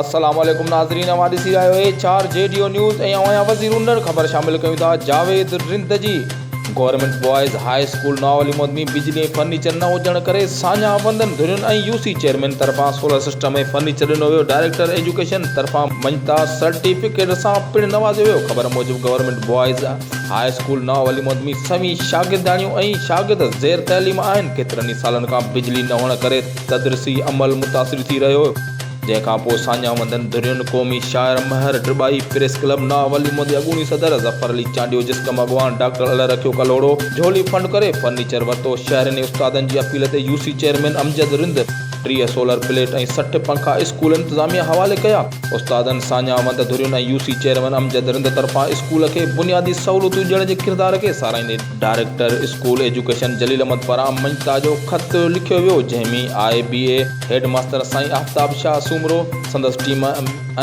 السلام عليڪم ناظرين اوهان ڏسي رهيا آهيو H R G D O news ۽ اوهان جا وزير اونڏر خبر شامل ڪيون ٿا جاويد رند جي گورنمينٽ بوائز هاء اسڪول ناوعلي مودمي بجلي ۽ فرنيچر نه هجڻ ڪري ساڃاهه بندن ڌرين ۽ يو سي چيئرمين طرفان سولر سسٽم ۽ فرنيچر ڏنو ويو ڊائريڪٽر ايجوڪيشن طرفان مڃتا سرٽيفڪيٽ سان پڻ نوازيو ويو خبر موجب گورنمينٽ بوائز هاء اسڪول ناوعلي مودمي سوين شاگردياڻيون ۽ شاگرد زير تعليم آهن ڪيترن ئي سالن کان بجلي نه هئڻ ڪري تدرسي عمل متاثر ٿي رهيو جنهن کان پوء ساڃاهه وندن ڌرين قومي شاعر مهر ڊٻائي، پريس ڪلب ناوه ليمون جي اڳوڻي صدر ظفر علي چانڊيو، جس ڪم اڳواڻ ڊاڪٽر الله رکيو ڪلهوڙو، جهولي فنڊ ڪري فرنيچر ورتو، شهرين ۽ استادن جي اپيل تي U C chairman Amjad Rind ٽيهه سولر پليٽ ۽ سٺ پنکا اسڪول انتظاميه حوالي ڪيا، استادن، ساڃاهه وند ڌرين ۽ U C chairman Amjad Rind طرفان اسڪول کي بنيادي سهولتون ڏيڻ جي ڪردار کي ساراهيندي director school education Jalil Ahmed پاران مڃتا جو خط لکيو ويو، جنهن ۾ I B A. Head master سائين آفتاب شاهه سومرو، سندس ٽيم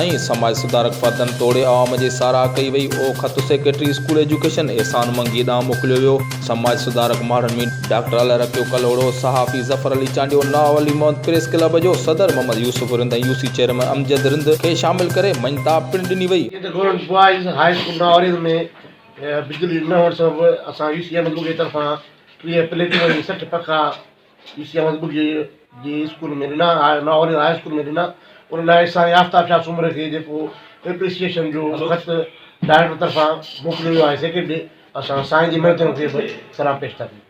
۽ سماج سڌارڪ فردن توڙي عوام جي ساراهه ڪئي وئي. اهو خط secretary school education Ehsan Mangi ڏانهن موڪليو ويو. سماج سڌارڪ ماڙهن ميڊيا. ڊاڪٽر الله رکيو ڪلهوڙو، صحافي ظفر علي چانڊيو، نواب علي محمد پريس ڪلب جو صدر Muhammad Yousuf Rind ۽ U C chairman Amjad Rind کي شامل ڪري مڃتا پڻ ڏني وئي. ڪيترن government boys high school Nawab Ali Rind ۾ بجلي نه هئڻ سبب اسان يو سي احمد منگيء جي طرفان ٽيهه پليٽون ۽ سٺ پکا، اي سي احمد ٻگهي جي اسڪول ۾ ڏنا ها ناهوري هاء اسڪول ۾ ڏنا ان لاء سائين آفتاب شاهه سومري کي جيڪو ايپريسيئيشن جو خط ڊائريڪٽر طرفان موڪليو ويو آهي سيڪريٽري ڏي اسان سائين جي محنتن کي به سلام پيش ٿا ڪيون.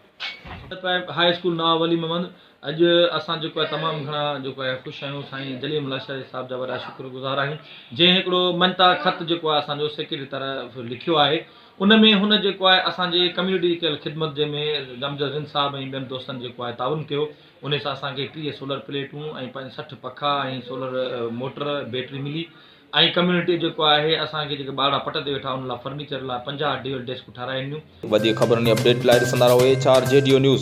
Primary high school Nawab Ali Muhammad اڄ اسان جيڪو آهي تمام گهڻا جيڪو آهي خوش آهيون سائين جليل ملا شاهه صاحب جا وڏا شڪر گذار آهيون جنهن هڪڙو مڃتا خط جيڪو آهي اسان جو سيڪريٽري طرف لکيو آهي ان ۾ هن جيڪو آهي اسان جي ڪميونٽي جي ڪيل خدمت جنهن ۾ غمزه زين صاحب ۽ ٻين دوستن جيڪو آهي تعاون ڪيو انهي سان اسان کي ٽيهه سولر پليٽون ۽ سٺ پکا ۽ سولر موٽر بيٽري ملي ۽ ڪميونٽي جيڪو آهي اسان کي جيڪي ٻارڙا پٽ تي ويٺا انهن لاء فرنيچر لاء پنجاهه ڊيول ڊيسڪون ٺاهرائي ڏنيون. وڌيڪ خبرن ۽ اپڊيٽ لاء ڏسندا رهو H R G D O news.